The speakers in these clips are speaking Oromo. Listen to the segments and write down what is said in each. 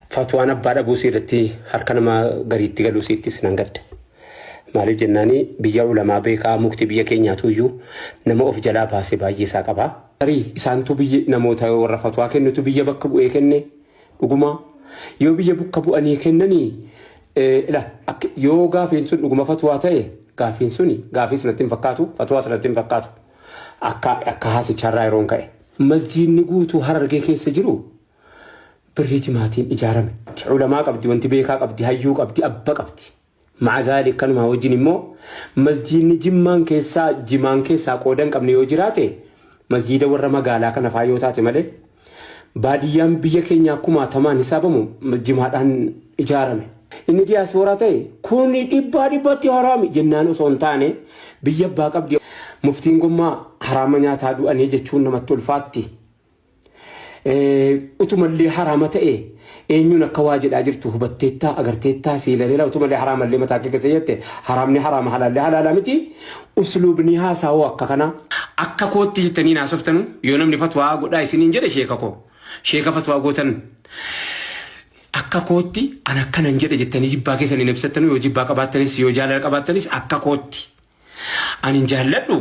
Fatwaan abbaa dhabuu sii irratti harka nama gariitti galuu siittis nan gadda. Maaliif jennaani biyya ulamaa beekaa mukti biyya keenyaatu iyyuu nama of jalaa baase baay'ee isaa qaba. Tarii isaantu biyya namoota warra fatwaa kennutu biyya bakka bu'ee kenne dhuguma yoo biyya bukka bu'anii kennani ila akka yoo gaafiin sun dhuguma fatwaa ta'e gaafiin suni gaafiis natti hin fakkaatu fatwaas natti hin fakkaatu akka akka haasicharraa yeroon ka'e. Masjiidni guutuu harargee keessa jiru Birrii timaatiin ijaarame. Culamaa qabdi, wanti beekaa qabdi, hayyuu qabdi, abba qabdi. Ma'a zaalik kanumaa wajjin immoo masjiidni jimmaan keessaa jimaan keessaa qoodan qabne yoo jiraate masjiida warra magaalaa kana faa yoo taate malee baadiyyaan biyya keenyaa kumaatamaan hisaabamu jimaadhaan ijaarame. Inni diyaasbooraa ta'e kun dhibbaa dhibbatti haraami jennaan osoo hin taane biyya abbaa qabdi muftiin gommaa haraama nyaataa du'anii jechuun namatti ulfaatti. utumallee haraama ta'e eenyuun akka waa jedhaa jirtu hubatteettaa agarteettaa si ilaleera utumallee haraamallee mataa kee keessa jette haraamni haraama halaallee halaala miti usluubni haasaawoo akka kana akka kootti jettanii naasoftanu yoo namni fatwaa godhaa isiniin jedhe sheeka koo sheeka fatwaa gootan akka kootti an akkanan jedhe jettanii jibbaa keessan hin ibsattanu yoo jibbaa qabaattanis yoo jaalala qabaattanis akka kootti Anin jaalladhu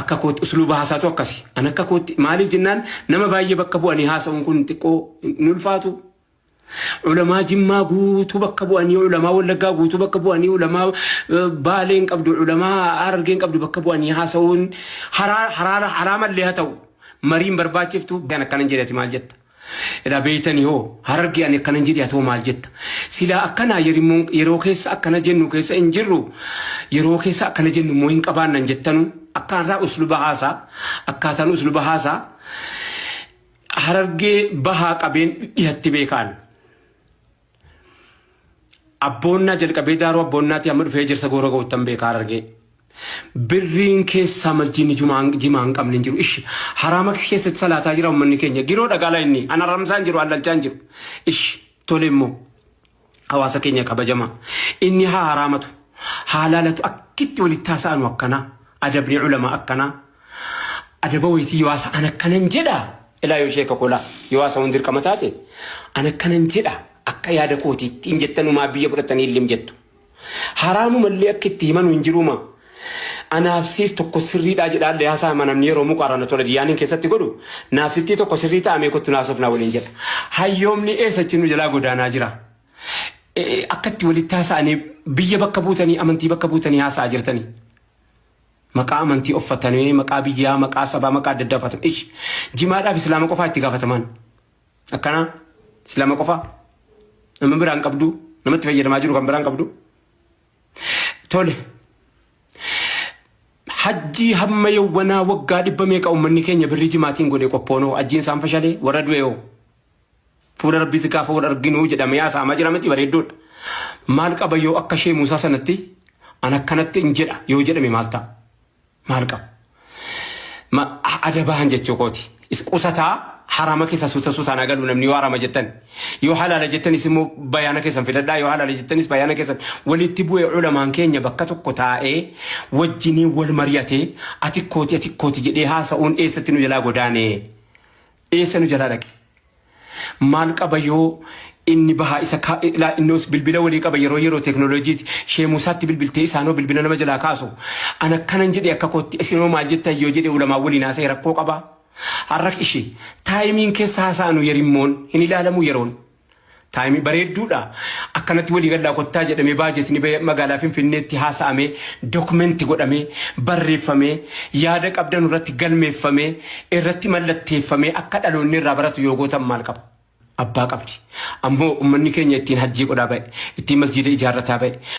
akka kootti usluuba haasaatu akkasi. An akka kootti maaliif jennaan nama baay'ee bakka bu'anii haasa'uun kun xiqqoo hin ulfaatu. Ulamaa jimmaa guutuu bakka bu'anii ulamaa wallaggaa guutuu bakka bu'anii ulamaa eh, baalee hin qabdu ulamaa harargee hin qabdu bakka bu'anii haasa'uun haraa haraa haraa mallee haa ta'u mariin barbaachiftu kan akkanan jedhati maal jetta. Edaa beeytanii hoo harargee ani akkanan jedhe atoo maal jetta silaa akkanaa yerimmoon yeroo keessa akkana jennu keessa hin jirru yeroo keessa akkana jennu immoo hin qabaannan jettanu akkaataa usluba haasaa akkaataan usluba haasaa harargee bahaa qabeen dhihatti beekaan Abboonnaa jalqabee daaruu abboonnaatii amma dhufee ejersa goora ga'uttan beekaa harargee. Birriin keessaa masjiinni jumaan jimaa hin qabne hin jiru. Ishi haraama keessatti salaataa jira uummanni keenya. Giroo dhagaala inni an haramsaa hin jiru allalchaa hin jiru. Ishi tole immoo hawaasa keenya kabajamaa. Inni haa haraamatu haa laalatu akkitti walitti haasa'anu akkanaa adabni ulama akkanaa. Adaba wayitii yoo haasa an akkanan jedha ilaa yoo sheeka koo laa yoo haasa hundi dirqama taate an akkanan jedha akka yaada kootiitti hin jettanumaa biyya fudhattanii illim jettu. Haraamuma illee akka itti himanu hin jiruuma. Anaaf siis tokko sirriidhaa jedhaallee haasaa hima namni yeroo muqaarana tola diyaaniin keessatti godhu naaf sittii tokko sirrii ta'a mee kottu naaf sofnaa waliin jedha. Hayyoomni eessa achi nu jalaa godaanaa jira. Eh, Akka itti walitti haasa'anii biyya bakka buutanii amantii bakka buutanii haasa'aa jirtanii. Maqaa amantii offatanee, maqaa biyyaa, maqaa sabaa, maqaa adda addaa uffatan. Ish jimaadhaaf islaama qofaa itti gaafatamaan. Akkanaa islaama qofaa nama biraan qabdu namatti fayyadamaa jiru kan biraan qabdu. Tole. Hajjii hamma yawwanaa waggaa dhibba meeqa uummanni keenya birrii jimaatiin godhe qophoonoo hajjiin isaan fashalee warra du'eewoo. Fuula Rabbiitti gaafa wal arginu jedhamee haasa'amaa jira miti bareeddoodha. Maal qaba yoo akka ishee Muusaa sanatti an akkanatti hin jedha yoo jedhame maal ta'a? Maal qaba? Ma ada bahan jechuu kooti. Is qusataa harama keessa suuta suutaan haa galu namni yoo harama jettan. Yoo halaala jettanis immoo bayaana keessan filadhaa yoo halaala jettanis bayaana keessan walitti bu'ee ulamaan keenya bakka tokko taa'ee wajjiniin wal mari'atee ati kooti ati kooti jedhee haasa'uun eessatti nu jalaa godaanee. Eessa nu jalaa dhaqe? Maal qaba yoo inni bahaa isa ka- ilaa innos bilbila walii qaba yeroo yeroo teeknooloojiiti sheemuu isaatti bilbiltee isaanoo bilbila nama jalaa kaasu an akkanan jedhe akka kootti isinoo maal jettan yoo jedhe ulamaa waliin haasa'e rakkoo qaba har'a ishee taayimiin keessa haasa'anu yerimmoon hin ilaalamu yeroon Taayimii bareedduudha. Akkanatti walii gallaa kottaa jedhamee baajetni bahee magaalaa Finfinneetti haasa'amee dokumenti godhamee barreeffamee yaada qabdanu irratti galmeeffamee irratti mallatteeffamee akka dhaloonni irraa baratu yoo gootan maal qaba? Abbaa qabdi. Ammoo ummanni keenya ittiin hajjii godhaa ba'e, ittiin masjiida ijaarrataa ba'e.